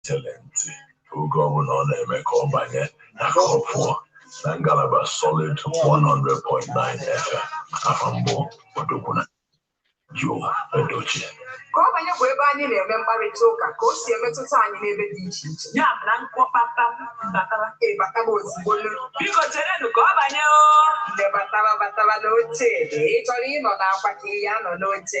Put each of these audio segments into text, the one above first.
tere ntị oge ọbụla ọ na-eme ka ọ banye na ka ọ pụọ na ngalaba solid 100.9 FM afa m bụ ọdụkwuna Joe Edochie ka ọ banye bụ ebe anyị na-eme mkparịta ụka ka o si emetụta anyị n'ebe dị iche iche ya bụ na mkpọkpata batara ịbataba ozugbo biko cherenụ ka ọ banye o nde batara batara n'oche ị chọrọ ịnọ n'akwa ka ị ya nọ n'oche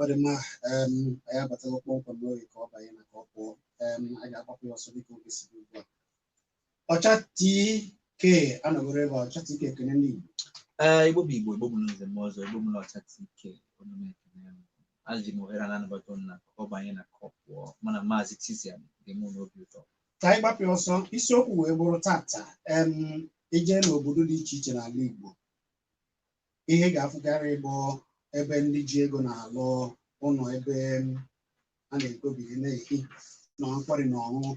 ọ dị mma em, anyị abatago kpọmkwem n'oge ka ọ banye na ka ọ pụọ em, anyị ga-agbapụ ya ọsọ dịka oge si dị ugbu a ọcha tk anọgoro ebe a, ọcha tk ekene ndị Igbo Ee, Igbo bụ Igbo, Igbo bụ nze mụọ ọzọ, Igbo bụ ọcha TK, unu na-ekene m. Eji m ohere a na-anabata unu na ka ọ banye na ka ọ pụọ, mụ na Maazị Titian ga-eme unu obi ụtọ. ka anyị gbapụ ya ọsọ isiokwu wee bụrụ tata em i je n'obodo dị iche iche n'ala Igbo ihe ị ga-afụkarị bụ ebe ndị ji ego na-alụ ụlọ ebe a na-ekobiri na-ehi na nkwari na ọṅụṅụ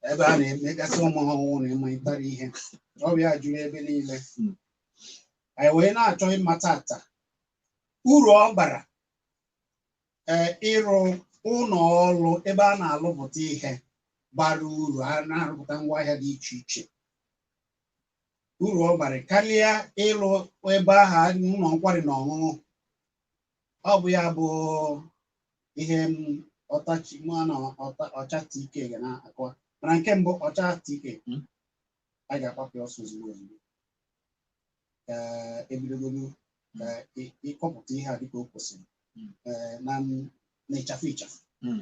ebe a na-emegasị ụmụ ọhụrụ na ịmalitara ihe ọ bụ ya juru ebe niile anyị wee na-achọ ịma tata uru ọ bara ee ịrụ ụlọ ọrụ ebe a na-alụpụta ihe bara uru a na-arụpụta ngwaahịa dị iche iche uru ọ bara karịa ịlụ ebe ahụ ụlọ nkwari na ọṅụṅụ ọ bụ ya bụ ihe m ọtachi mụ na ọta- ọcha tk ga na-akọwa mana nke mbụ ọcha tk Mm. a ga-agbapụ ya ọsọ ozugbo ozugbo ka e bidogodu ka ị- ịkọpụta ihe a dịka o kwesịrị Mm. eh, na m- na ịchafụ ịchafụ Mm.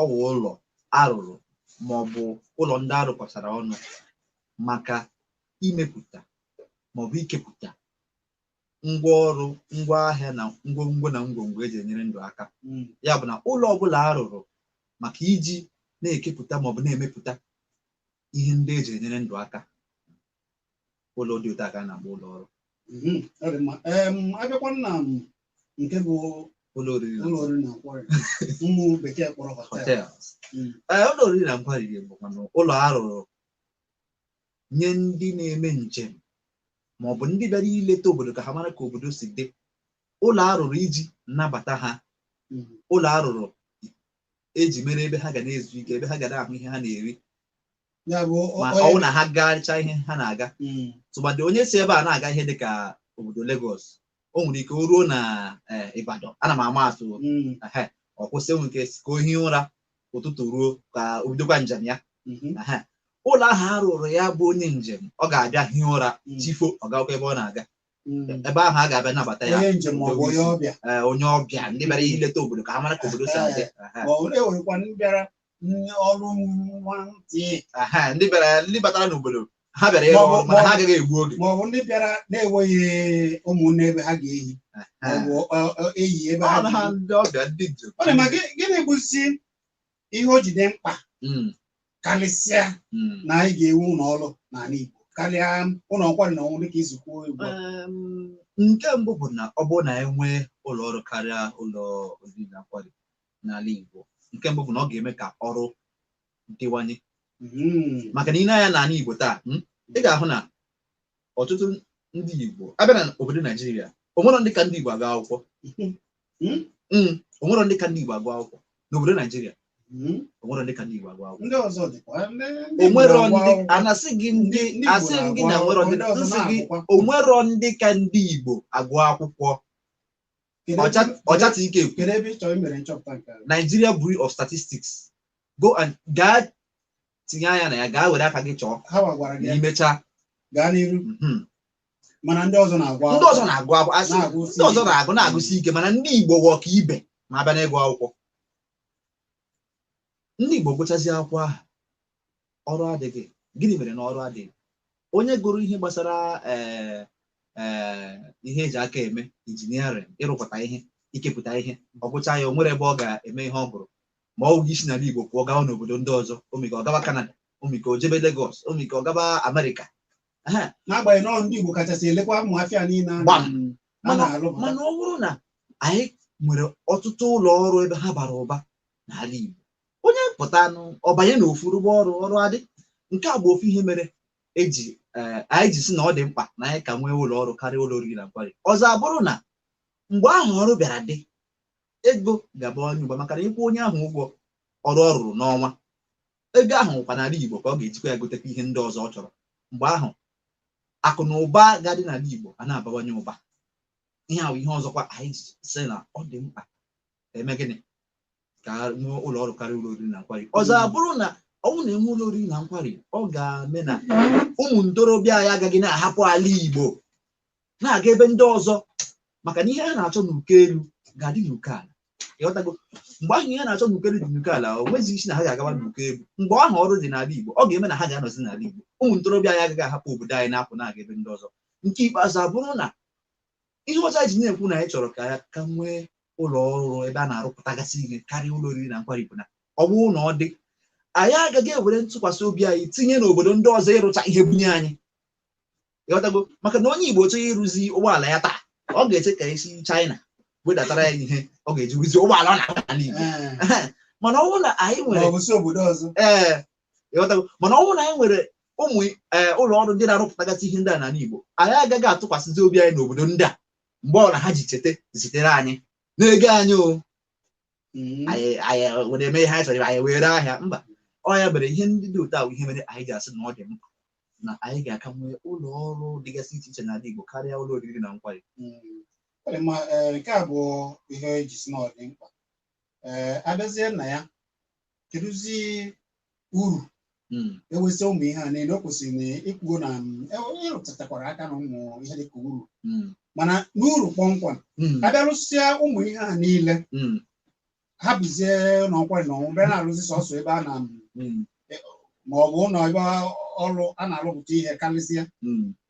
ọ wụ ụlọ arụrụ ma ọ bụ ụlọ ndị arụkọtara ọnụ maka imepụta ma ọ bụ ikepụta ngwa ọrụ ngwa ahịa na ngwongwo na ngwongwo eji enyere ndụ aka hmm. ya bụ na ụlọ ọbụla arụrụ maka iji na-ekepụta ma ọ bụ na-emepụta ihe ndị eji enyere ndụ aka ụlọ dị otu a ka a na-akpọ ụlọ ọrụ Mhm, ọ dị mma. Em, a bịakwa na nke bụ ụlọ oriri na ụlọ oriri na nkwari ụmụ bekee kpọrọ hotel hotels Mm. ee ụlọ oriri na nkwari bụkwanụ ụlọ a rụrụ nye ndị na-eme njem ma ọ bụ ndị bịara ileta obodo ka ha mara ka obodo si dị ụlọ a rụrụ iji nabata ha Mm. ụlọ a rụrụ eji mere ebe ha ga na-ezu ike ebe ha ga na-ahụ ihe ha na-eri Ya bụ o- ma onye- ọ wụ na ha gachaa ihe ha na-aga Mm. tụmadị onye si ebe a na-aga ihe dị ka obodo Lagos o nwere ike o ruo na eh, Ibadan ana m ama atụ Mm. ehe, ọ kwụsị enwe ike ka o hie ụra ụtụtụ ruo ka o bidokwa njem ya Mhm. ehe. ụlọ ahụ a rụrụ ya bụ onye njem ọ ga-abịa hie ụra Mm. chi foo ọ gakwa ebe ọ na-aga Mm. ebe ahụ a ga-abịa nabata ya onye njem ma ọ bụ onye ọbịa eh, onye ọbịa ndị bịara ileta obodo ka ha mara ka obodo si adị ehe. mana e nwerekwa ndị bịara ndị ọrụ nwa ntị Aha, ndị bịara ndị batara n'obodo ha bịara ịrụ Maọbụ- ọrụ mana ha agaghị egbu oge maọbụ ndị bịara na-enweghị ụmụnne ebe ha ga-ehi maọbụ ọ- ọ- eyi ebe ha ọrụ ha ga-eyi. ndị ọbịa ndị njem Ọ dị mma gị- gịnị bụzi ihe o ji dị mkpa Mm, karịsịa mm. na anyị ga-ewu ụlọ ọrụ n'ala Igbo karịa ụlọ nkwari na ọṅụ dịka i si kwuo ugbu a. Em, nke mbụ bụ na ọ bụrụ na e nwee ụlọ ọrụ karịa ụlọ oriri na nkwari n'ala Igbo nke mbụ bụ na ọ ga-eme ka ọrụ dịwanye hmm. maka na i nee anya n'ala Igbo taa hmm, ị ga-ahụ na ọtụtụ ndị Igbo a bịa na obodo Naijiria o nwerọ ndị ka ndị Igbo agụ akwụkwọ hmm. o nwerọ ndị ka ndị Igbo agụ akwụkwọ n'obodo Naijiria o nwerọ ndị ka ndị Igbo agụ akwụkwọ o nwerọ ndị a na-asị gị ndị asị gị na o nwerọ ndị m sị gị o nwerọ ndị ka ndị Igbo agụ akwụkwọ Kedu ebe- Ọja- Ọjata Ike ekwu kedu ebe ị chọrọ i mere nchọpụta nke a? Nigeria Bureau of Statistics go and gaa tinye anya na ya gaa were aka gị chọọ ha wa gwara gị na ya i mecha gaa n'iru mhm. mana ndị ọzọ na-agụkwa ndị ọzọ na-agụ agụ asị Na-agụ ndị ọzọ na-agụ na-agụsi ike mana ndị Igbo wụ ọka ibe ma a bịa n'ịgụ akwụkwọ ndị Igbo gụchazie akwụkwọ ahụ ọrụ adịghị gịnị mere na ọrụ adịghị onye gụrụ ihe gbasara eh, eh, ihe eji aka eme injiniarịn ịrụpụta ihe ikepụta ihe ọ gụcha ya o nwere ebe ọ ga-eme ihe ọ gụrụ ma ọ wụghị isi n'ala Igbo pụọ gawa n'obodo ndị ọzọ omike ọ gaba Kanada omike o jebe Legọs omike ọ gaba Amerịka Ehe, n'agbanyeghị na ọ ndị Igbo kachasị elekwa ụmụ afịa niile a Gbam. na- a mana na-arụpụta mana ọ bụrụ na anyị nwere ọtụtụ ụlọ ọrụ ebe ha bara ụba n'ala Igbo onye pụtanụ ọ banye na ofu rụba ọrụ ọrụ adị nke a bụ ofu ihe mere eji ee anyị ji sị na ọ dị mkpa na anyị ka nwee ụlọ ọrụ karịa ụlọ oriri na nkwari ọzọ abụrụ na mgbe ahụ ọrụ bịara dị ego ga-abawanye ụba maka na ịkwụ onye ahụ ụgwọ ọrụ ọ rụrụ n'ọnwa ego ahụ kwa n'ala Igbo ka ọ ga-ejikwa ya gotekwa ihe ndị ọzọ ọ chọrọ mgbe ahụ akụ na ụba ga-adị n'ala Igbo a na-abawanye ụba ihe ahụ ihe ọzọkwa anyị ji sị na ọ dị mkpa eme gịnị ka nwee ụlọ ọrụ karịa ụlọ oriri na nkwari ọzọ abụrụ na ọ bụrụ na e nwee ụlọ oriri na nkwari ọ ga-eme na ụmụ ntorobịa anyị agaghị na-ahapụ ala Igbo na-aga ebe ndị ọzọ maka na ihe ha na-achọ n'uko elu ga-adị n'uko ala ị ghọtago mgbe ahụ ihe ha na-achọ n'uko elu dị n'uko ala o nweghị isi na ha ga-agawa n'uko elu mgbe ahụ ọrụ dị n'ala Igbo ọ ga-eme na ha ga-anọzi n'ala Igbo ụmụ ntorobịa anyị agaghị ahapụ obodo anyị na-apụ na-aga ebe ndị ọzọ nke ikpeazụ abụrụ na ihe ọzọ anyị ji na-ekwu na anyị chọrọ ka ya ka nwee ụlọ ọrụ ebe a na-arụpụtagasị ihe karịa ụlọ oriri na nkwari bụ na ọ bụrụ na ọ dị anyị agaghị ewere ntụkwasị obi anyị tinye n'obodo ndị ọzọ ịrụcha ihe bunye anyị ị ghọtago maka na onye Igbo chọọ ịrụzi ụgbọala ya taa ọ ga-eche ka e si China wedatara ya ihe ọ ga-eji rụzie ụgbọala ọ na-agba n'ala Igbo Ee, mana ọ bụrụ na anyị ma nwere ọ bụ si obodo ọzọ ee ị ghọtago mana ọ bụrụ na anyị nwere ụmụ ee, ụlọ ọrụ ndị na-arụpụtagasị ihe ndị a n'ala Igbo anyị agaghị atụkwasịzi obi anyị n'obodo ndị a mgbe ọla ha ji cheta zitere anyị n'ego anyị o Mm. anyị anyị were eme ihe anyị chọrọ anyị were ahịa mba ọ ya mere ihe ndị dị otu ahụ ihe mere anyị ga-asị na ọ dị mkpa na anyị ga-aka nwee ụlọ ọrụ dịgasị iche iche n'ala Igbo karịa ụlọ oriri na nkwari Mm. Ọ dị mma, eh, nke a bụ ihe e ji sị na ọ dị mkpa ee a bịazie na ya kedụzi uru Mm. ewesị ụmụ ihe a niile o kwesịrị na i kwuo na mm, e- ị rụtatakwara aka na ụmụ ihe dịka uru Mm. mana n'uru kpọmkwem Mm. a bịa rụsịa ụmụ ihe a niile Mm. hapụzie ụlọ nkwari na ọṅụṅụ bịa na-arụzi sọsọ ebe a na Mm. ma ọ bụ ụlọ ebe ọrụ a na-arụpụta ihe karịsịa Mm.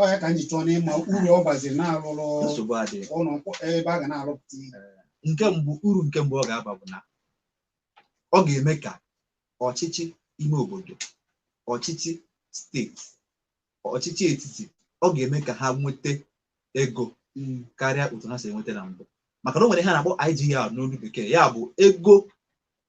ọ ya ka m ji chọọ n'ịma uru ọ baziri na a rụrụ nsogbu adịghị ụlọ mkpọ- ebe a ga na-arụpụta ihe nke mbụ uru nke mbụ ọ ga-aba bụ na ọ ga-eme ka ọchịchị ime obodo ọchịchị steeti ọchịchị etiti ọ ga-eme ka ha nweta ego Mm. karịa otu ha si enweta na mbụ maka na o nwere ihe a na-akpọ IGR n'olu bekee ya bụ ego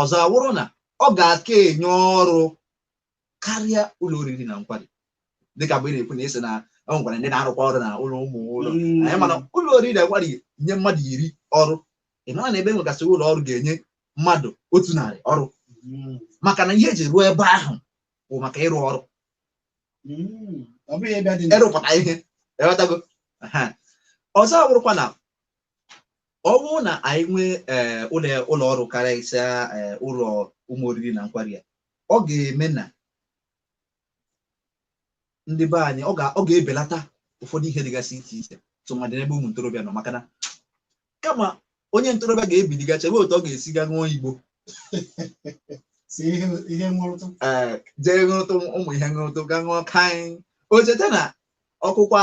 ọzọ awụrụ na ọ ga-aka enye ọrụ karịa ụlọ oriri na nkwari dịka mgbe ị na-ekwu na-asị na e nwekwara ndị na-arụkwa ọrụ na ụlọ ụmụ ụlọ anyị mana ụlọ oriri na nkwari nye mmadụ iri ọrụ ị mara na ebe e nwegasị ụlọ ọrụ ga-enye mmadụ otu narị ọrụ maka na ihe e ji rụọ ebe ahụ bụ maka ịrụ ọrụ ịrụpụta ihe ị ghọtago ọzọ awụrụkwa na ọ bụrụ na anyị nwee ee eh, ụlọ ụlọ ọrụ karịsịa ee eh, ụlọ ụmụ oriri na nkwari a ọ ga-eme na ndị be anyị ọ ga-ebelata ụfọdụ ihe dịgasị iche iche tụmadị n'ebe ụmụ ntorobịa nọ maka na kama onye ntorobịa ga-ebili gaa chebe otu ọ ga-esi ga ṅụọ igbo jee ṅụrụtụ ụmụ ihe ṅụrụtụ ga ṅụọ kaị o cheta na ọ kụkwa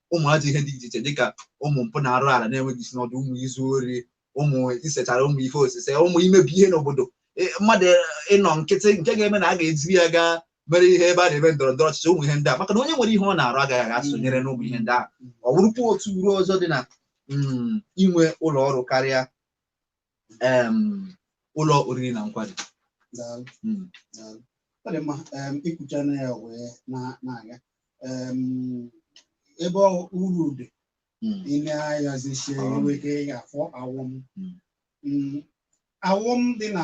ụmụ ajọ ihe dị iche iche dịka ụmụ mpụ na arụ ala na-enweghị isi na ọdụ ụmụ izu ori ụmụ isechara ụmụ ife osise ụmụ imebi ihe n'obodo e, mmadụ e, ịnọ nkịtị nke ga-eme na a ga-ejiri ya gaa mere ihe ebe a na-eme ndọrọ ndọrọ ọchịchị ụmụ ihe ndị a maka na onye nwere ihe ọ na-arụ agaghị aga sonyere n'ụmụ ihe ndị ahụ ọ bụrụkwa otu uru ọzọ dị na mm, inwe ụlọ ọrụ karịa em, ụlọ oriri na nkwari Daalụ, Mm. daalụ. Ọ dị mma em, i kwuchana ya wee na- na-aga Em, ebe ọ- uru dị Mm. i lee anya zie Ọghọm. e nwee ike ị ga-afụ ọghọm Mm. Mm, ọghọm dị na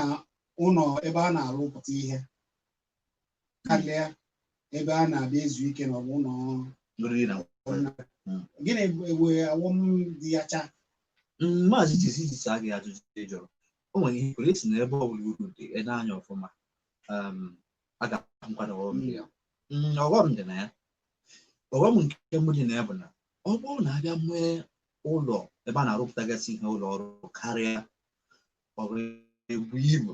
ụlọ ebe a na-arụpụta ihe karịa ebe a na-abịa ezu ike na ọ bụ ụlọ oriri na gịnị e nwee ọghọm dị ya cha maazị jisi jisi agị ajụjụ ị jụrụ o nwere ihe i kwuru ị sị na ebe ọbụla uru dị e lee anya ọfụma um, a ga-ahụkwanụ ọghọm dị ya Mm, ọghọm dị na ya ọghọm nke mbụ dị na ya bụ na ọ bụrụ na a bịa nwee ụlọ ebe a na-arụpụtagasị ihe ụlọ ọrụ karịa ọrụ ebu ibu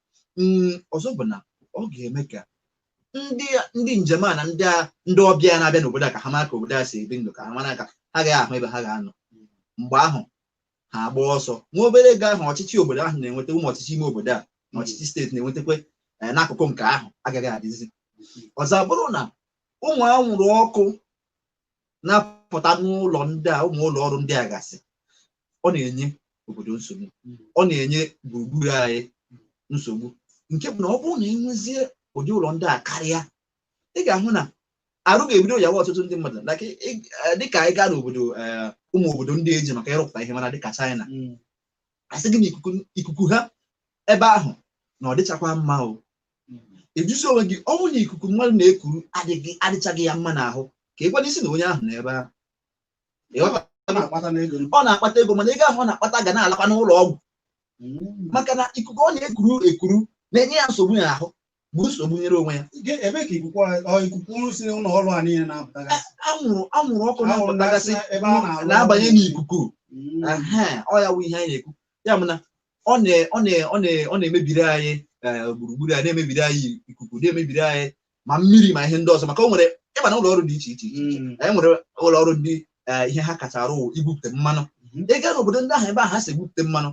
mm, ọzọ bụ na ọ ga-eme ka ndị ndị njem a na ndị a ndị ọbịa na-abịa n'obodo a ka ha mara ka obodo a si ebi ndụ ka ha mara ka ha agaghị ahụ ebe ha ga-anọ mgbe ahụ ha agba ọsọ nwa obere ego ahụ ọchịchị obodo ahụ na-enweta ụmụ ọchịchị ime obodo a na ọchịchị steeti na-enwetakwa eh, n'akụkụ nke ahụ agaghị adịzi ọzọ abụrụ na ụmụ anwụrụ ọkụ na-apụta n'ụlọ ndị a ụmụ ụlọ ọrụ ndị a gasị ọ na-enye obodo nsogbu ọ na-enye gburugburu anyị nsogbu nke bụ na ọ bụrụ na e nwezie ụdị ụlọ ndị a karịa ị ga-ahụ na arụ ga-ebido yawa ọtụtụ ndị mmadụ na ka ị- ị- eh, dịka anyị gaa n'obodo eh, ụmụ obodo ndị e ji maka ịrụpụta ihe mara dịka China a sị gị na ikuku ikuku ha ebe ahụ na ọ dịchakwa mma o ị jụzie onwe gị ọ bụrụ na ikuku mmadụ na-ekuru adịghị adịchaghị ya mma n'ahụ ka e kwuonụ sị na onye ahụ nọ ebe ahụ ọ na-akpata ego mana ego ahụ ọ na-akpata ga na-alakwa n'ụlọ ọgwụ hmm. maka na ikuku ọ na-ekuru ekuru na-enye ya nsogbu ya ahụ bụ nsogbu o nyere onwe ya ebe ka ikuku ikuku si n'ụlọ ọrụ a niile na-apụtaga anwụrụ anwụrụ ọkụ na-apụtagasị na-abanye n'ikuku hmm. ọ ya wụ ihe anyị na-ekwu ya bụ na ọ na-emebiri anyị e, gburugburu a na-emebiri anyị ikuku na-emebiri anyị ma mmiri ma ihe ndị ọzọ maka o nwere ị ma na ụlọ ọrụ dị iche iche iche iche. anyị nwere ụlọ ọrụ ndị eh, ihe ha kacha arụ wụ igwupụta mmanụ ị gaa n'obodo ndị ahụ ebe ahụ ha si egwupụta mmanụ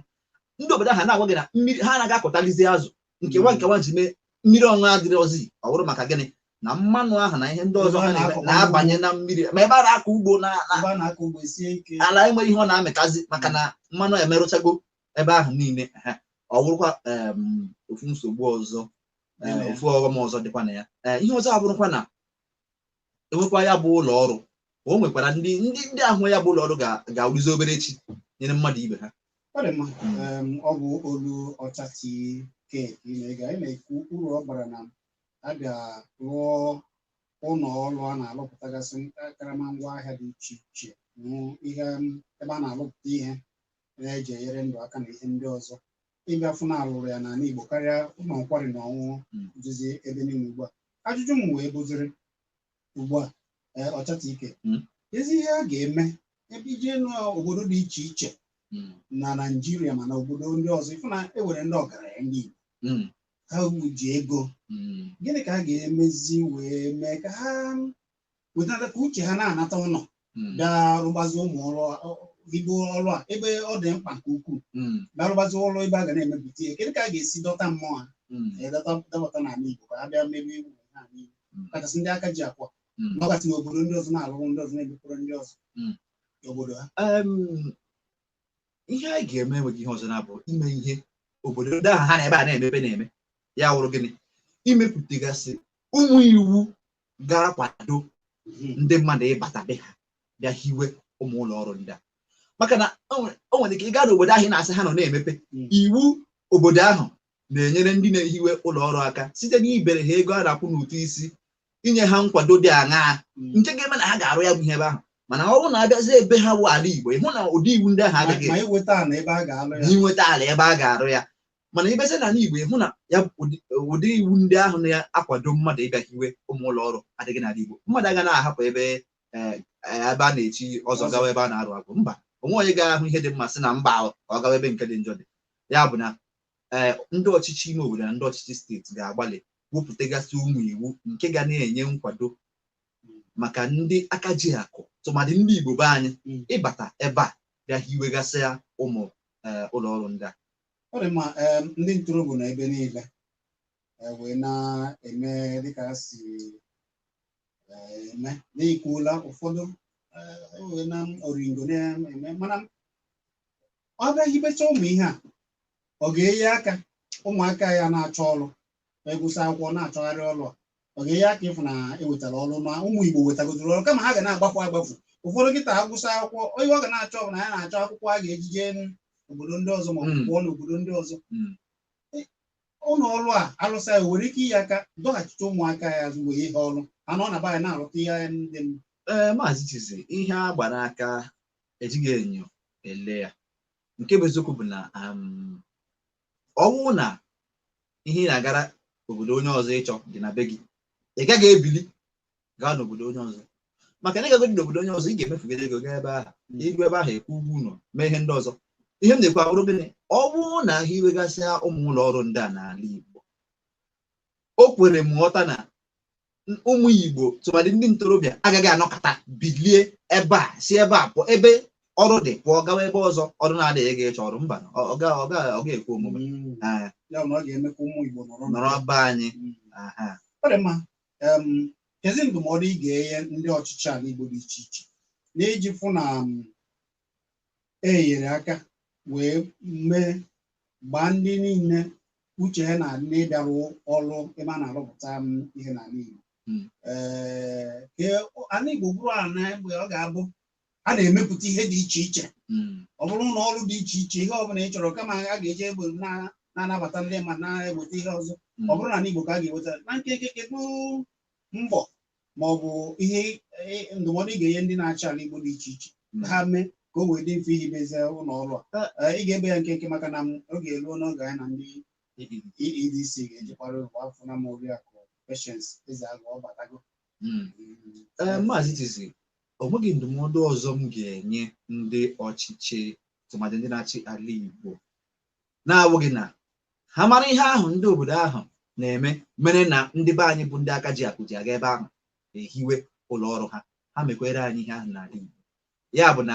ndị obodo ahụ na-agwa gị na mmiri ha anaghị akọtalizi azụ nke ha nke ha ji mee mmiri ọṅụṅụ adịrọzi ọ bụrụ maka gịnị na mmanụ ahụ na ihe ndị ọzọ ha na-eme na-abanye na mmiri ma ebe a na-akọ ugbo na na- ebe a na-akọ ugbo sie ike ala enweghị ihe ọ na-amịtazi maka na mmanụ emerụchago ebe ahụ niile ehe. ọ bụrụkwa em, ofu nsogbu ọzọ eh, ofu ọghọm ọzọ dịkwa na ya eh, ihe ọzọ abụrụkwa na enwekwa ya bụ ụlọ ọrụ o nwekwara ndị ndị ndị ahụ ya bụ ụlọ ọrụ ga-awụzi obere chi nyere mmadụ ibe ha ọ bụ olu ọcha tk na-ega ị na-ekwu uru ọ bara na a ga-rụọ ụlọ ọrụ a na-alụpụtagasị karama ngwa ahịa dị iche iche ihe ebe a na-alụpụta ihe na-eji enyere ndụ aka na ihe ndị ọzọ ịbịa fụ na alụrụ ya n'ala Igbo karịa ụlọ nkwari na ọṅụṅụ Mm. dịzi ebe niile ugbu a ajụjụ m wee bụziri ugbu a ee, ọcha tk Mm. kezi ihe a ga-eme ebe i je n'obodo dị iche iche Mm. na Naịjirịa ma na obodo ndị ọzọ ịfụ na e nwere ndị ọgaranya ndị Igbo Mm. ha ji ego Mm. gịnị ka a ga-emezi wee mee ka ha wetata ka uche ha na-anata ụlọ Mm. bịa rụgbazi ụmụ ọrụ ibu ọrụ a ebe ọ dị mkpa nke ukwuu Mm. bịa rụgbazi ọrụ ebe a ga na-emepụta ihe kedu ka a ga-esi dọta mmụọ ha Mm. ee, dọta dọbata n'ala Igbo ka ha bịa mebe iwu n'ala Igbo Mm. kachasị ndị aka ji akụ Mm. nọgasị n'obodo ndị ọzọ na-alụrụ ndị ọzọ na-emepụrụ ndị ọzọ Mm. n'obodo ha Em, ihe anyị ga-eme enweghị ihe ọzọ na-abụ ime ihe obodo ndị ahụ ha na ebe a na-emepe na-eme ya wụrụ gịnị imepụtagasị ụmụ iwu ga-akwado ndị mmadụ ịbata be ha bịa hiwe ụmụ ụlọ ọrụ ndị a maka na o nwere- o nwere ike ịga n'obodo ahụ ị na-asị ha nọ na-emepe Mm. iwu obodo ahụ na-enyere ndị na-ehiwe ụlọ ọrụ aka site n'ibere ha ego a na-akwụ n'ụtụ isi inye ha nkwado dị aṅaa nke ga-eme na ha ga-arụ ya bụ ihe ebe ahụ mana ọ bụrụ na abịazie ebe ha bụ ala Igbo ịhụ na ụdị iwu ndị ahụ agaghị ma inweta ala ebe a ga-alụ ya inweta ala ebe a ga-arụ ya mana ị bịazi n'ala Igbo ịhụ na ya ụdị iwu ndị ahụ na-akwado mmadụ ịbịa hiwe ụmụ ụlọ ọrụ adịghị n'ala Igbo mmadụ agaghị na-ahapụ ebe e, e, ebe a na-echi ọzọ gawa ebe a na-arụ agwụ mba o nweghị onye ga-ahụ ihe dị mma sị na mba ahụ ka ọ gawa ebe nke dị njọ dị ya bụ na ee ndị ọchịchị ime obodo na ndị ọchịchị steeti ga-agbalị wepụtagasị ụmụ iwu nke ga na-enye nkwado maka ndị aka ji akụ tụmadị ndị Igbo be anyị hmm. ịbata ebe a bịa hiwegasị ya ụmụ e, ụlọ ọrụ ndị a ọ dị mma em, ndị ntorobịa nọ ebe niile eh, wee na-eme dịka ha si eh, eme na-ekwuola ụfọdụ eh, wee na oringo na-eme mana a bịa hibecha ụmụ ihe a ọ ga-enye aka ụmụaka ya na-achọ ọrụ ma ịgụsị akwụkwọ na-achọgharị ọrụ a ọ ga-enye aka ịfụ na ewetara ọrụ ma ụmụ Igbo wetagodoro ọrụ kama ha ga na-agbafu agbafu ụfọdụ kịta agụsị akwụkwọ onye ọ ga na-achọ bụ na ya na-achọ akwụkwọ a ga-eji jee obodo ndị ọzọ ma ọ bụ Mm. pụọ n'obodo ndị ọzọ Mm. ụlọ ọrụ a alụsa ya nwere ike inye aka dọghachite ụmụaka ya azụ mgbe ihe ọrụ ha nọ na be anyị na-arụta ihe ya ndị mma ee maazị chizi ihe a gbara aka ejighị enyo ele ya nke bụ eziokwu bụ na um, ọ bụrụ na ihe ị na-agara obodo onye ọzọ ịchọ dị na be gị ị gaghị ebili gaa n'obodo onye ọzọ maka na ị gagodi n'obodo onye ọzọ ị ga-emefugide ego gaa ebe ahụ i ru ebe ahụ ị kwụọ ụgwọ ụlọ mee ihe ndị ọzọ ihe m na-ekwu abụrụ gịnị ọ bụrụ na ha hiwegasịa ụmụ ụlọ ọrụ ndị a n'ala Igbo o kwere m nghọta na ụmụ Igbo tụmadị ndị ntorobịa agaghị anọkata bilie ebe a si ebe a pụọ ebe ọrụ dị pụọ gawa ebe ọzọ ọrụ na-adịghị gaa ịchọ ọrụ mba ọ ga-ekwe omume mm. ah. nọrọ be anyị mm. ah, ah. ọ dị mma kezi ndụmọdụ ị ga-enye ndị ọchịchị ala Igbo dị iche iche n'iji fụ na e nyere aka wee mee gbaa ndị niile uche ha na n'ịbịa rụọ ọrụ ebe a na-arụpụta ihe n'ala Igbo Mm. Ee, ka ala Igbo bụrụ ala mgbe ọ ga-abụ a na-emepụta ihe dị iche iche Mm. ọ bụrụ na ọrụ dị iche iche ihe ọbụla ị chọrọ kama a ga-eji egbe na- na-anabata ndị ma na-eweta ihe ọzọ Mm. ọ bụrụ na n'ala Igbo ka a ga-eweta na nkenke kedu mbọ ma ọ bụ ihe e, ndụmọdụ ị ga-enye ndị na-achị ala Igbo dị iche iche ka ha mee ka o wee dị mfe ihibezi ụlọ ọrụ a Ee, ị ga-ebe ya nkenke maka na m- oge eruo n'oge anyị na ndị EEDC ga-eji kọwara ụwa afụna m oriakụ Patience Ezeagụ ọ batago Mm. Ee, Maazị Tizi, o nweghị ndụmọdụ ọzọ m ga-enye ndị ọchịchị tụmadị ndị na-achị ala Igbo na-awụghị na ha mara ihe ahụ ndị obodo ahụ na-eme mere na ndị be anyị bụ ndị aka ji akụ ji aga ebe ahụ ehiwe ụlọ ọrụ ha ha mekwere anyị ihe ahụ n'ala Igbo ya bụ na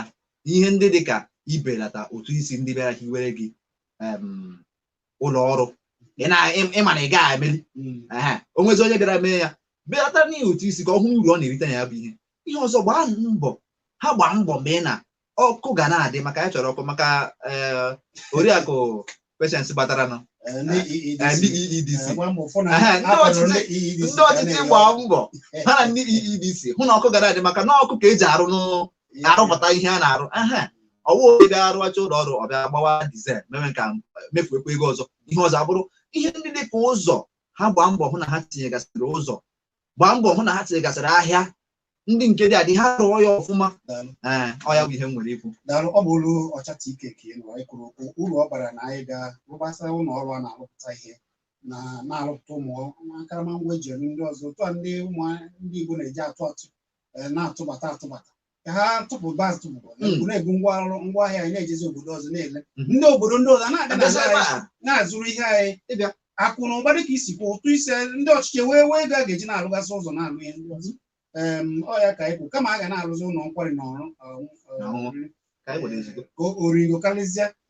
ihe ndị dị ka ibelata ụtụ isi ndị bịara hiwere gị ụlọ ọrụ ị ma na ị gaghị emeli o nwezi onye bịara mee ya belata n'ihi ụtụ isi ka ọ hụ uru ọ na-erite na ya bụ ihe ihe ọzọ gbaa mbọ ha gbaa mbọ mee na ọkụ ga na-adị maka ya chọrọ ọkụ maka eh, oriakụ Patience bataranụ Eh, ndị EEDC. Ehe, ndị ọchịchị ndị ọchịchị gbaa mbọ ha na ndị EEDC hụ na ọkụ ga na-adị maka na ọkụ ka e ji arụ n'ụ- arụpụta ihe a na-arụ ehe ọwụ onye bịa arụacha ụlọ ọrụ ọ bịa gbawa dizel mewe ka mefuekwa ego ọzọ ihe ọzọ abụrụ ihe ndị dị ka ụzọ ha gbaa mbọ hụ na ha tinyegasịrị ụzọ gbaa mbọ hụ na ha tinyegasịrị ahịa ndị nke dị adị ha rụọ ya ọfụma Daalụ. ee ọ ya bụ ihe m nwere ikwu Daalụ, ọ bụ olu Ọchata Ike ka ị nụrụ anyị kwuru okwu uru ọ bara na anyị ga-arụgbasa ụlọ ọrụ a na-arụpụta ihe na na-arụpụta ụmụ akaramangwa e ji eme ndị ọzọ otu a ndị ụmụ ndị Igbo na-eji atụ atụ eh, na-atụbata atụbata ka ha tụpụbazi atụpụ Mm. e wee na-ebu ngwa ọrụ ngwa ahịa anyị na-ejezi obodo ọzọ na-ele Mhm. ndị obodo ndị ọzọ na-abịa abịazi na-azụrụ ebe anyị- a. na-azụrụ ihe anyị ịbịa akụ na ụba dịka i si kwuo ụtụ isi ndị ọchịchị wee wee ego a ga-eji na-alụgasị ụzọ na-alụ ihe ndị ọzọ Em, ọ ya ka anyị kwuru kama a ga na-alụzi ụlọ nkwari na oriri na ọṅụṅụ. ka anyị nwere ezigbo ka o- origo karịsịa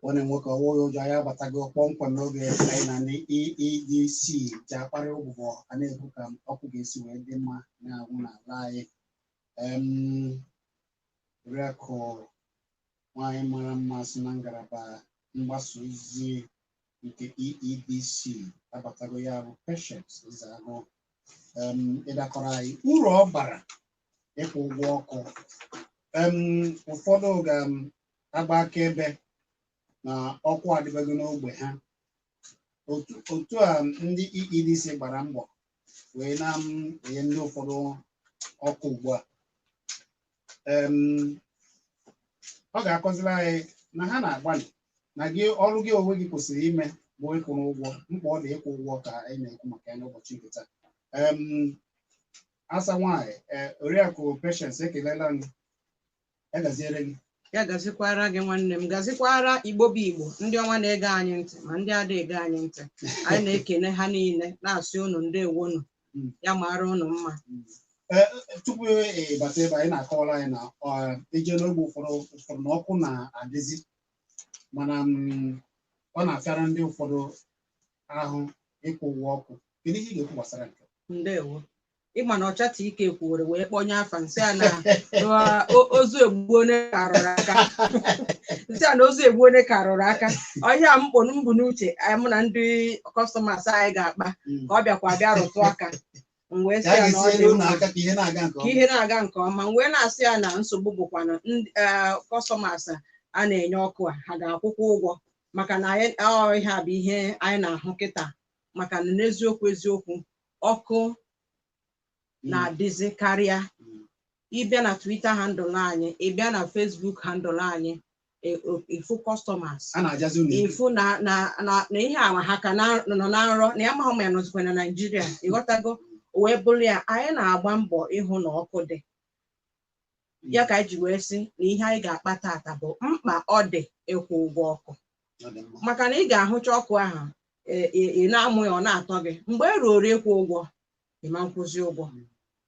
nwanne m nwoke ọwụghị ụjọ anyị abatago kpọmkwem n'oge anyị na ndị EEDC ji akparị ụbụbọ a na-ekwu ka ọkụ ga-esi wee dị mma na-anwụ n'ala anyị Em, oriakụ nwanyị mara mma si na ngalaba mgbasa ozi nke EEDC abatago ya bụ Patience Ezeagụ Em, ịdakọrọ anyị uru ọ bara ịkwụ ụgwọ ọkụ Em, ụfọdụ ga-agba akaebe na ọkụ adịbego n'ogbe ha otu otu a ndị EEDC gbara mbọ wee na-enye ndị ụfọdụ ọkụ ugbu a Em, ọ ga-akọziri anyị na ha na-agbalị na gị ọrụ gị onwe gị kwesịrị ime bụ ịkwụnụ ụgwọ mkpa ọ dị ịkwụ ụgwọ ka anyị na-ekwu maka ya n'ụbọchị nke taa Em, asa nwanyị ee oriakụ Patience ekelela m ya gaziere gị ya gazikwara gị nwanne m gazikwara igbo bụ igbo ndị ọma na-ege anyị ntị ma ndị ada ege anyị ntị anyị na-ekene ha niile na-asị unu ndewonu Mm. ya mara unu mma Ee, tupu ị bata ebe a ị na-akọwara anyị na ọ, e jee n'ogbe ụfọdụ ụfọdụ na ọkụ na-adịzi mana mm, ọ na-afịara ndị ụfọdụ ahụ ịkwụ ụgwọ ọkụ kedu ihe ị ga-ekwu gbasara nke a? ndewo ị ma na ọchata ike kwuru wee kpọnye afa m sị a na na o- ozu egbu onye ka rụrụ aka m sị a na ozu egbu onye ka rụrụ aka ọ ihe a m kpụ m bu n'uche anyị mụ na ndị kọstọmas anyị ga-akpa Mm. ka ọ bịakwa bịa rụtụ aka m wee sị ka a ya na ọ ga-esi dị elu ụlọ mma aka ka ihe na-aga nke ka ọma ihe na-aga nke ọma m wee na-asị ya na nsogbu bụkwa na ndị kọstọmas a na-enye ọkụ a ha ga-akwụkwa ụgwọ maka na anyị ọ ihe a bụ ihe anyị na-ahụ kịta maka na n'eziokwu eziokwu ọkụ na-adịzi karịa ị bịa na Twitter handle anyị ị bịa na Facebook handle anyị e- o- ị fụ customers a na-ajazi unu ibu. ị fụ na na na na ihe awa ha ka na- nọ na nrọ na ya amaghị ma ya nọzikwa na Naịjirịa ị ghọtago o wee bụrụ ya anyị na-agba mbọ ịhụ na ọkụ dị ya ka anyị ji wee sị na ihe anyị ga-akpa tata bụ mkpa ọ dị ịkwụ ụgwọ ọkụ Ọ dị mma. maka na ị ga-ahụcha ọkụ ahụ e- e- ị na-amụ ya ọ na-atọ gị mgbe e ruoro ịkwụ ụgwọ ị ma nkwụzi ụgwọ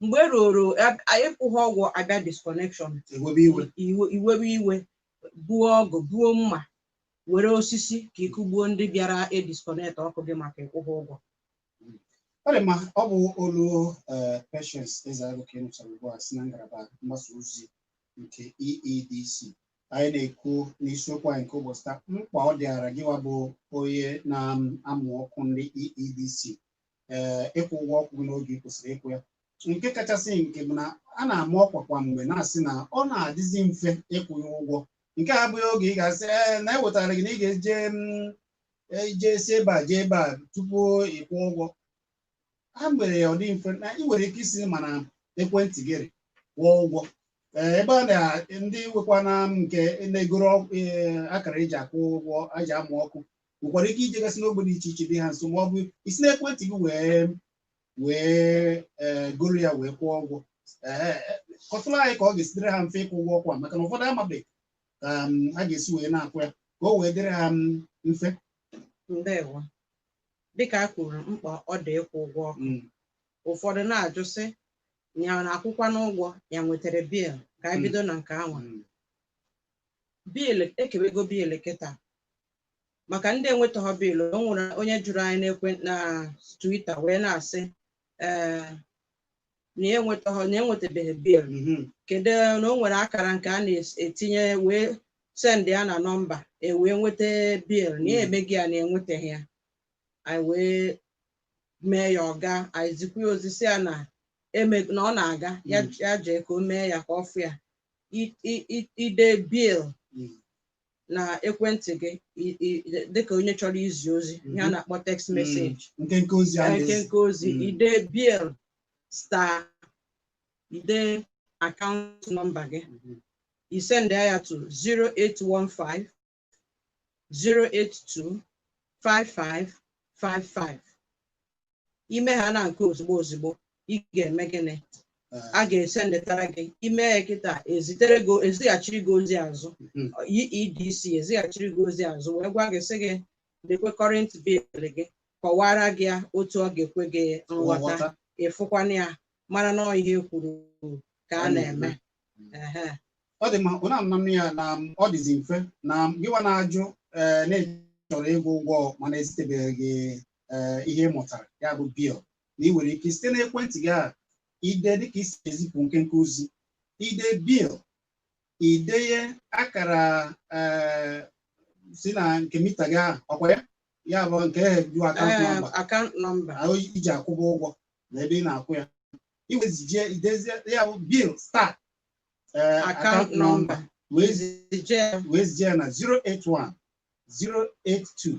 mgbe e ruoro ab- a- ị kwụghị ụgwọ a bịa disconnection e webe iwe iwe i webe iwe buo ọgụ buo mma were osisi ka i kugbuo ndị bịara edisconnect ọkụ gị maka ị kwụghị ụgwọ ọ dị mma ọ bụ olu eh, Patience Ezeagu ka ị nụchara ugbu a si na ngalaba mgbasa ozi nke EEDC anyị na-ekwu n'isiokwu anyị nke ụbọchị taa mkpa ọ dịara gịwa bụ onye na-amụ ọkụ ndị EEDC ee ịkwụ ụgwọ ọkụ gị n'oge ị kwesịrị ịkwụ ya nke kachasị nke bụ na a na-ama ọkwa kwa mgbe na-asị na ọ na-adịzi mfe ịkwụ ya ụgwọ nke a abụghị oge ị ga-asị ee na ewetara gị na ị ga-eje mm, ije si ebe a jee ebe a tupu ịkwụ ụgwọ ha mere ya ọ dị mfe na ị nwere ike isi ma na ekwentị gị rị kwụọ ụgwọ Ee, ebe a na ndị nwekwa na nke na-egoro ọkụ, ee, akara eji akwụ ụgwọ eji amụ ọkụ nwekwara ike ijegasị n'ogbe dị iche iche dị ha nso ma ọ bụ isi n'ekwentị gị wee wee ee, goro ya wee kwụọ ụgwọ Ee, kọtụrụ anyị ka ọ ga-esi dịrị ha mfe ịkwụ ụgwọ ọkụ a maka na ụfọdụ amabeghị ka um, a ga-esi wee na-akwụ ya ka o wee dịrị ha um, mfe ndewo dịka a kwuru mkpa ọ dị ịkwụ ụgwọ ọkụ Mm. ụfọdụ na-ajụ sị ya na-akwụkwanụ ụgwọ ya nwetara bill ka anyị Mm. bido na nke anwa Mm. bill e kebego bill kịta maka ndị enwetaghọ bill o nwere onye jụrụ anyị n'ekwe na Twitter wee na-asị ee na ya enwetaghị na enwetabeghị bill Mhm. kedu na o nwere akara nke a na-etinye wee send ya na nọmba e wee nweta bill na ya Mm. emeghị ya na enwetaghị ya anyị wee mee ya ọ gaa anyị zikwa ya ozi sị ya na eme na ọ na-aga ya Mm. ya jee ka o mee ya ka ọ fụ ya I- i- i- i dee bill Mm. na ekwentị gị i- i- dịka onye chọrọ izi ozi ihe a Mhm. na-akpọ text Mm. message nkenke ozi a na-ezi nkenke ozi Mm. i dee bill star i dee akaụntụ nọmba gị Mhm. i sendie ya to 0815 082 5555. ime ha na nke ozugbo ozugbo ị ga-eme gịnị a ga-esendetara gị i mee ya kịta ezitere gị ezighachiri gị ozi azụ Mhm. EEDC ezighachiri gị ozi azụ wee gwa gị sị gị lekwe current bill gị kọwara gị ya otu ọ ga-ekwe gị nghọta Nghọta. ịfụkwana ya mara na ọ ihe e kwuru ka a na-eme Ehe. ọ dị mma ị na-anụ ya na mm, ọ dịzi mfe na mm, gịwa na-ajụ ee na ị chọrọ ịkwụ ụgwọ mana ezitebeghị gị ee ihe ị mụtara ya bụ bill na ị nwere ike site n'ekwentị gị a i dee dịka e si ezipụ nkenke ozi i dee bill i deye akara ee si na nke mita gị ahụ ọkwa ya ya bụ nke ehe ju akaụntụ Ee, nọmba account number. ahụ i ji akwụbu ụgwọ na ebe ị na-akwụ ya i wee zije i dezie ya bụ bill star ee Account akaụntụ nọmba number. wee zi- Zije ya. wee zie ya na 081 082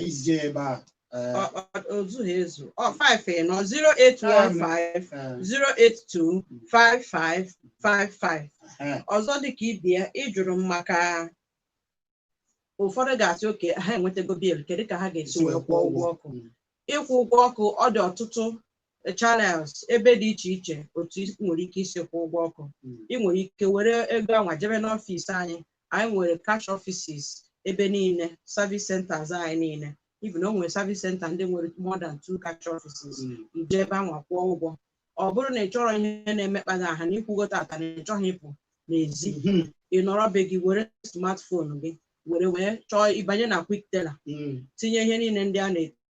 Ejije ebe a. eh, Ọ- ọ- o zughị ezu ọ 5 ịnọ 0815 eh, 082 5555 eh, ọzọ dịka ibe ya ị jụrụ m maka ụfọdụ ga-asị okay ha enwetago bill kedu ka ha ga-esi wee kwụọ ụgwọ ọkụ ịkwụ ụgwọ ọkụ ọ dị ọtụtụ eh, channels ebe dị iche iche otu i nwere ike isi kwụọ ụgwọ ọkụ ị nwere ike were ego anwa jebe n'ọfịs anyị anyị nwere cash offices ebe niile service centers anyị niile even o nwere service center ndị nwere more than two cash offices i jee ebe anwa kwụọ ụgwọ ọ bụrụ na ị chọrọ ihe na-emekpa gị ahụ na ị kwụgo tata na ị chọghị ịpụ n'ezi ị nọrọ be gị were smartphone gị were wee chọọ ị banye na Quickteller tinye ihe niile ndị a na-eti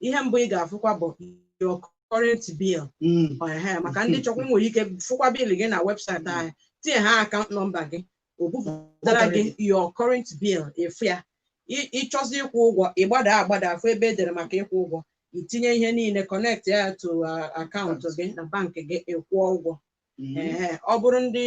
ihe mbụ ị ga-afụkwa bụ your current bill Mm. Ọ, ehe, maka ndị chọkwa nwere ike fụkwa bill gị na website anyị tinye ha account number gị o bupụtara gị your current bill ị fụ ya Ị- ị chọzi ịkwụ ụgwọ ị gbada agbada afụ ebe e dere maka ịkwụ ụgwọ i tinye ihe niile connect ya to uh, account gị na bank gị ị kwụọ ụgwọ Mm. Ehe, ọ bụrụ ndị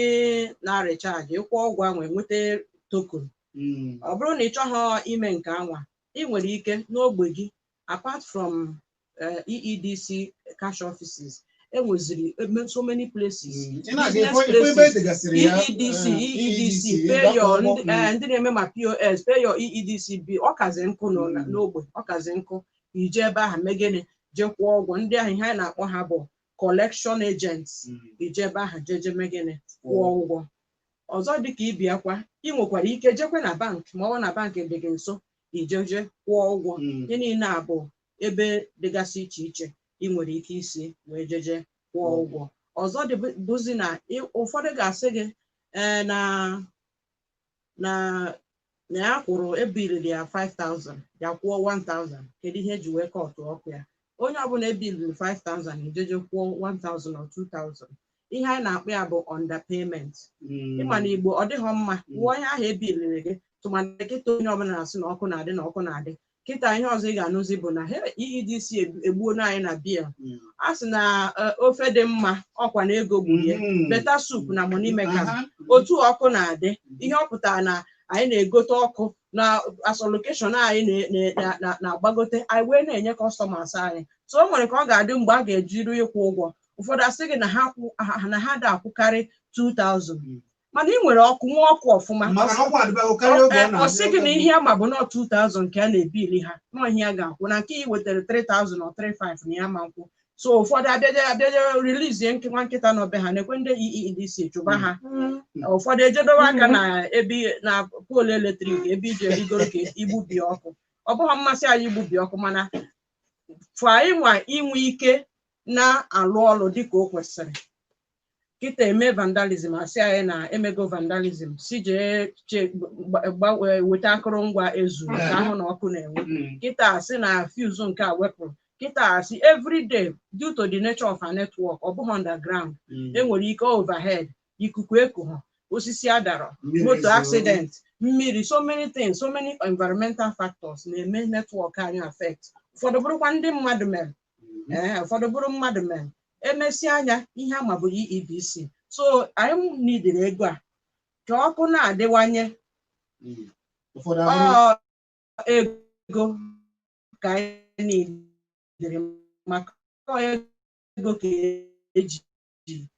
na-arịchaji ị kwụọ ụgwọ ahụ enweta token Mm. ọ bụrụ na ị chọghị ime nke anwa ị nwere ike n'ogbe gị apart from uh, EEDC cash offices e nweziri eme- so many places Mm. Ị na-aga business ife- ife ebe places, e degasịrị ya, EEDC eh, EEDC EEDC, pay ịgba your akwụkwọ, ndị eh, ndị na-eme ma POS pay your EEDC bill ọ kazi nkụ nọ na- Mm. n'ogbe ọ kazi nkụ i jee ebe ahụ mee gịnị jee kwụọ ụgwọ ndị ahụ ihe anyị na-akpọ ha bụ collection agents Mm. i jee ebe ahụ jeje mee gịnị kwụọ ụgwọ ọzọ dịka ibe ya kwa ị nwekwara ike jekwa na bank ma ọ bụ na bank dị gị nso i jeje kwụọ ụgwọ Mm. ihe niile a bụ ebe dịgasị iche iche ị nwere ike isi wee jeje kwụọ Kwụọ ụgwọ ọzọ dị bụ- bụzi na ị- ụfọdụ ga-asị gị ee na na na ya kwụrụ e biliri ya 5000 ya kwụọ 1000 kedu ihe e ji wee kọtụ ọkụ ya onye ọbụla e biliri 5000 i jeje kwụọ 1000 or 2000 ihe anyị na-akpọ ya bụ underpayment ị ma na Igbo ọ dịghị mma kwụọ ihe ahụ e biliri gị tụmadị kịta onye ọbụla na-asị na ọkụ na-adị na ọkụ na-adị kịta ihe ọzọ ị ga-anụzi bụ na he EEDC egbu- egbuola anyị na bill Mm. a sị na eh, ofe dị mma ọ kwa na ego gburu ya Mhm. better soup na money make am Aha. otu ọkụ na-adị ihe ọ pụtara na anyị na-egote ọkụ na as allocation anyị na- na- na- na- na-agbagote anyị wee na-enye customers anyị so o nwere ka ọ ga-adị mgbe a ga-eji ru ịkwụ ụgwọ ụfọdụ asị gị na ha kwụ- ha- na ha da-akwụkarị 2000 mana ị nwere ọkụ nwee ọkụ ọfụma maka na ọkụ adịbago karịa oge ọ Ee, na ọ sị gị na ihe a ma bụ na 2000 ka a na-ebili ha na ọ ihe ha ga-akwụ na nke i wetara 3000 or 35 na ya ma nkwụ so ụfọdụ abịaje abịaje rilizie nke nwa nkịta nọ be ha na-ekwe ndị EEDC chụba ha ụfọdụ ejedowe aka na ebe na poolu eletrik ebe e ji arịgoro ka igbubi ọkụ ọ bụghị mmasị anyị igbubi ọkụ mana for anyị nwa inwe ike na-alụ ọrụ dịka o kwesịrị kịta e mee vandalism a sị anyị na emego vandalism sị jee che- gba- gba- weta akụrụngwa e zuru ka a hụ na ọkụ na-enwu Mm. kịta asị na fuse nke a wepụrụ kịta asị everyday due to the nature of our network ọ bụghị underground Mm. enwere ike overhead ikuku ekuo osisi adara Mmiri moto zoo. accident mmiri so many things so many environmental factors na-eme network anyị affect ụfọdụ bụrụkwa ndị mmadụ mere ee ụfọdụ bụrụ mmadụ mee e mesịa nya ihe a ma bụ EEDC so anyị nidiri ego a ka ọkụ na-adịwanye ụfọdụ ọ ahụhụ ego ka anyị nidiri maka ọ ego ka eji ji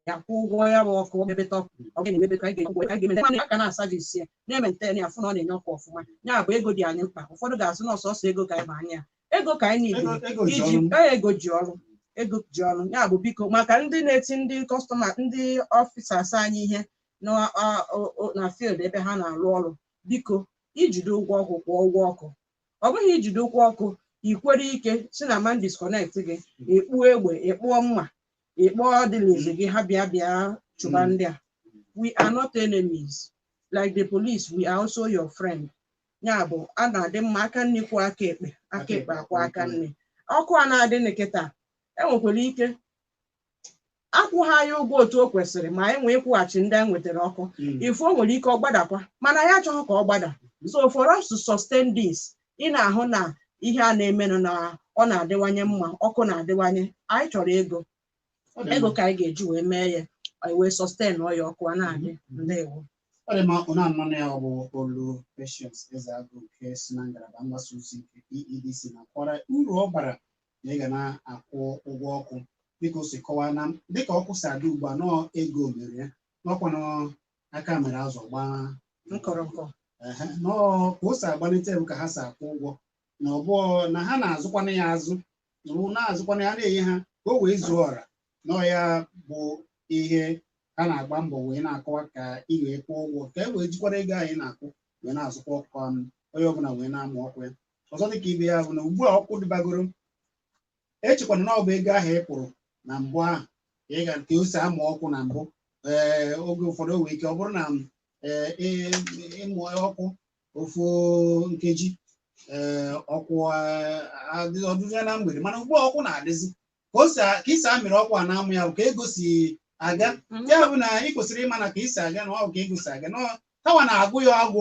ya kwụ ụgwọ ya bụ ọkụ mebeta ọkụ ọ bụrụ na emebeta anyị ga-ekwu anyị ga-emeta mana a ka na-asavisi ya na-ementen ya a fụ na ọ na-enye ọkụ ọfụma ya bụ ego dị anyị mkpa ụfọdụ ga-asị na ọ sọsọ ego ka anyị ma anya ego ka anyị Ego nidiri ego ji iji ọrụ. ee, ego ji ọrụ ego ji ọrụ ya bụ biko maka ndị na-eti ndị kọstọma ndị ọfisas anyị ihe na a- o- o- na field ebe ha na-arụ ọrụ biko i jide ụgwọ ọkụ kwụọ ụgwọ ọkụ ọ bụghị i jide ụgwọ ọkụ i kwere ike sị na a ma disconnect gị ị kpụọ egbe ị kpụọ mma ị kpọọ ndị n'ezi gị ha bịa bịa chụba Mm. ndị a we are not enemies like the police we are also your friend ya bụ a na-adị mma aka nni kwọọ aka ekpe aka ekpe akwọọ aka nni ọkụ a na-adị na kịta enwekwara ike akwụghị anyị ụgwọ otu o kwesịrị ma anyị nwee ịkwụghachi ndị anyị nwetara ọkụ Mm. ị fụ o nwere ike ọ gbadakwa mana anyị achọghị ka ọ gbada so for us to sustain this ị na-ahụ na ihe a na-emenụ na ọ na-adịwanye mma ọkụ na-adịwanye anyị chọrọ ego Ọ dị ego mma. ka anyị ga-eji wee mee ya anyị wee sustainụọ ya ọkụ a na-adị ndewo Ọ dị mma ụnụ anụlanụ ya ọ bụ olu Patience Ezeagụ nke si na ngalaba mgbasa ozi nke EEDC na-akọwara uru ọ bara na ị ga na-akwụ ụgwọ ọkụ dịka o si kọwaa na dịka ọkụ si adị ugbu a na ọ ego mere ya na ọ kwanụ aka mere azụ gbaa nkọrọnkọ ehe, na ọ ka o si agbalite bụ ka ha si akwụ ụgwọ na ọ bụ na ha na-azụkwanụ ya azụ na ọ na-azụkwanụ ya na-enye ha ka o wee zuo ọra na ọ ya bụ ihe ha na-agba mbọ wee na-akọwa ka ị wee kwụọ ụgwọ ka e wee jikwara ego anyị na-akwụ wee na-azụkwa ọkụ ahụ onye ọbụla wee na-amụ ọkụ ya ọzọ dịka ibe ya bụ na ugbu a ọkụ dịbagoro echekwana na ọ bụ ego ahụ ị kwụrụ na mbụ ahụ ka ị ga ka o si amụ ọkụ na mbụ ee oge ụfọdụ o nwere ike ọ bụrụ na ee ị- ịmụ ọkụ ofu nkeji ee ọkụ ee, adị ọdụdụ ya na mgbede mana ugbu a ọkụ na-adịzi ka o si a- ka i si amịrị ọkụ a na-amụ ya bụ ka ego si aga ya bụ na ị kwesịrị ịma na ka i si aga na ọ bụ ka ego si aga na ọ- ka wa na-agụ ya agwụ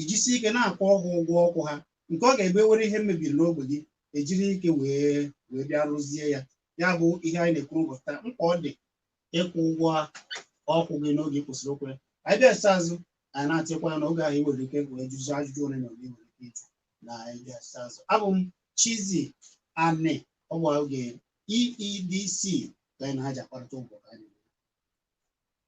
ijisi ike na-akwụ ọgwụ ụgwọ ọkụ ha nke ọ ga-abụ e were ihe mebiri n'ogbe gị e jiri ike wee wee bịa rụzie ya ya bụ ihe anyị na-ekwu ụbọchị taa mkpa ọ dị ịkwụ ụgwọ ọkụ gị n'oge kwụsịrị okwu anyị bịasa azụ anyị na-atịkwa na oge ahụ nwere ike wee jụzi ajụjụ ole na ole nwere ike ịjụ na anyị bịasa azụ abụ m Chizzy Ani ọ bụ oge EEDC ka anyị na ha ji akparịta ụbọchị anyị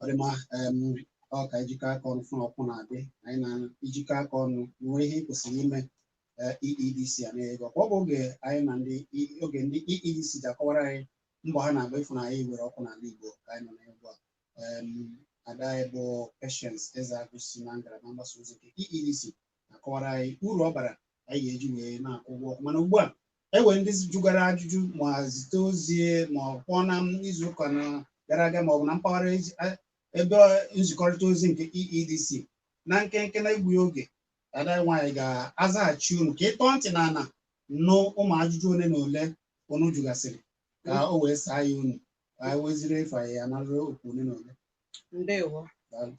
ọ dị mma em, ọ ka e jikọ aka ọnụ fụ na ọkụ na-adị anyị na ijikọ aka ọnụ nwee ihe ị kwesịrị ime eh, EEDC a na-enye gị ọkwa ọ bụ oge anyị na ndị E- oge ndị EEDC ji akọwara anyị mbọ ha na-agba ịfụ na anyị were ọkụ n'ala Igbo ka anyị nọ na ugbu a Em, ada anyị bụ Patience Ezeagu si na ngalaba mgbasa ozi nke EEDC na-akọwara anyị uru ọ bara anyị ga-eji wee na-akwụ ụgwọ ọkụ mana ugbu a e nwe ndị jụgara ajụjụ ma zite ozi ma ọ kpọọ na izu ụka na gara aga ma ọ bụ na mpaghara ezi- a- ebe nzikọrịta ozi nke EEDC na nkenke na egbughị oge ada anyị nwaanyị ga-azaghachi unu ka ị tọọ ntị n'ana nụ ụmụ ajụjụ ole na ole unu jụgasịrị ka o wee saa ya unu ka anyị weziri efe ya na okwu ole na ole ndewo Daalụ.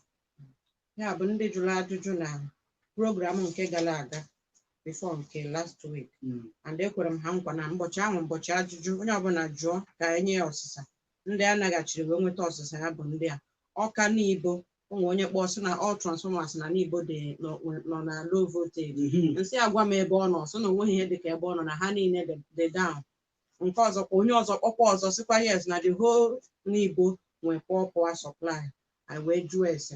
ya bụ ndị jụrụ ajụjụ na program nke gara aga before nke last week Mm. and ekwere m ha nkwa na mbọchị ahụ mbọchị ajụjụ onye ọbụla jụọ ka e nye ya ọsịsa ndị a naghachiri wee nweta ọsịsa ya bụ ndị Awka Nibo o nwe onye kpọọ sị na all transformers na Nibo dị nọ nọ na low voltage Mhm. m sị ya gwa m ebe ọ nọ sị na o nweghị ihe dị ka ebe ọ nọ na ha niile dị- dị down nke ọzọ kwa onye ọzọ kpọkwa ọzọ sịkwa yes na the whole Nibo nwee poor power supply anyị wee jụọ ese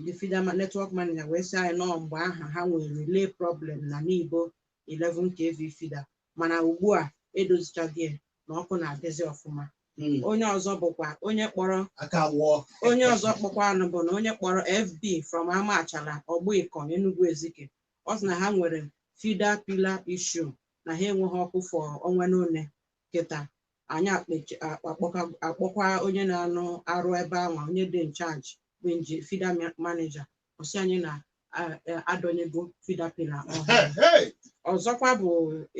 the feeder ma- network manager wee sị anyị na mgbe ahụ ha nwere relay problem na Nibo 11 kv feeder mana ugbu a edozichago ya na ọkụ na-adịzi ọfụma Mm. onye ọzọ bụkwa onye kpọrọ aka wụọ onye ọzọ kpọkwanụ bụ na onye kpọrọ FB from Amachala ọgbọ ịkọ Enugwu Ezike ọ sị na ha nwere feeder pillar issue na ha enweghị ọkụ for ọnwa n'one kịta anyị akpechi- a- akpọka- akpọkwa onye na-arụ ọrụ ebe anwa onye dị in charge bụ nji feeder ma- manager ọ sị anyị na a- a- adọnyego feeder pillar ọhụrụ Hey, hey. ọzọkwa bụ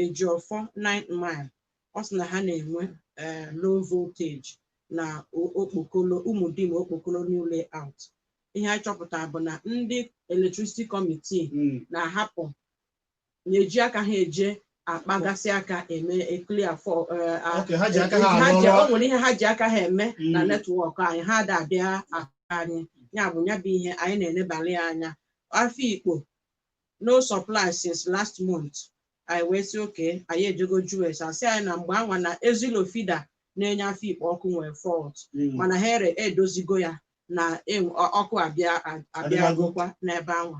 Ejiọfọ 9th mile ọ sị na ha na-enwe eh, low voltage na o- okpokolo ụmụdim okpokolo new layout ihe anyị chọpụtara bụ na ndị electricity committee Mm. na-ahapụ na-eji aka ha eje akpagasị aka eme clear fault eh, a- Okay, ha ji aka ha ha arụzi ọrụ. o nwere ihe ha ji aka ha eme na Mm. network anyị ha ada abịa aka anyị ya bụ ya bụ ihe anyị na-enebalị anya Afikpo no supply since last month anyị wee sị okay anyị ejego jụọ ese a sị anyị na mgbe anwa na Ezillo feeder na-enye Afikpo ọkụ nwere fault Mm. mana ha e- edozigo ya na enwe- ọ- ọkụ abịa a- abịa Adịbago. gokwa n'ebe anwa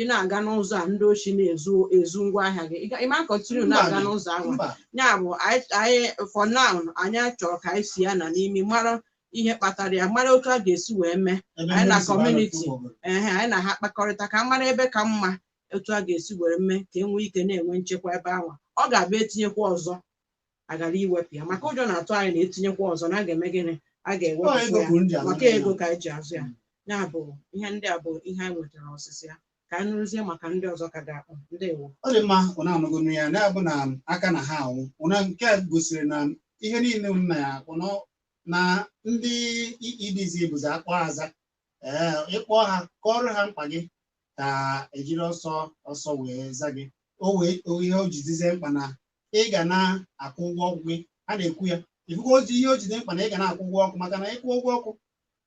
ị na-aga n'ụzọ a ndị oshi na-ezu ezu ngwa ahịa gị ị ma continue na-aga n'ụzọ anwa ya bụ anyị for now anyị chọrọ ka anyị si ya na n'imi mara ihe kpatara ya mara otu a ga-esi wee mee anyị na community ehe anyị na ha kpakọrịta ka mara ebe ka mma otu a ga-esi were mee ka e nwee ike na-enwe nchekwa ebe anwa ọ ga-abụ e tinyekwa ọzọ a ghara iwepụ ya maka ụjọ na-atụ anyị na e tinyekwa ọzọ na a ga-eme gịnị a Ọ ego ga-ewepụ kwuru ndị ya a maka na-eme ego ka anyị ji azụ ya ya bụ ihe ndị a bụ ihe anyị nwetara ọsịsa ya ka anyị rụzie maka ndị ọzọ ka ga-akpọ ndewo ọ dị mma ụna anụgonu ya na bụ na aka na ha anwụ ụna nke a gosiri na ihe niile m na ya akpụ na na ndị EEDC bụzi a kpọọ a za ee ị kpọọ ha kọọrọ ha mkpa gị ka ejiri ọsọ ọsọ wee za gị o wee o ihe o jizi dị mkpa na ị ga na-akwụ ụgwọ ọkụ gị a na-ekwu ya ị fụgozi ihe o ji dị mkpa na ị ga na-akwụ ụgwọ ọkụ maka na ị kwụọ ụgwọ ọkụ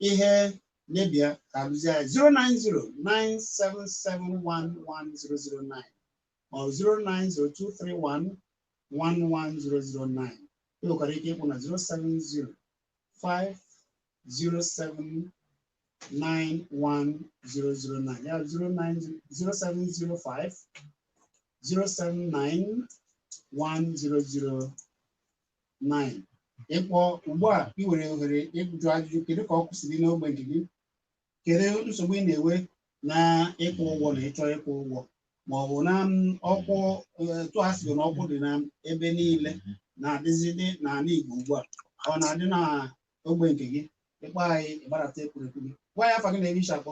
ihe mebia ka a lụzie ya 09097711009 ma ọ bụ 09023111009 ị nwekwara ike ịkpọ na 070 0705009 ya 09 0705 079 1009 ị kpọọ ugbu a ị nwere ohere ịjụ ajụjụ kedu ka ọkụ si dị n'ogbe nke gị kedu nsogbu ị na-enwe na ịkwụ ụgwọ na ịchọ ịkwụ ụgwọ ma ọ bụ na m, ọkụ eh, etu a sị na ọkụ dị na ebe niile na-adịzidị n'ala Igbo ugbu a ọ na-adị na ogbe nke gị ị kpọọ anyị ị gbadata ekwurekwu gị gwa anyị afa gị na ebe i si akpọ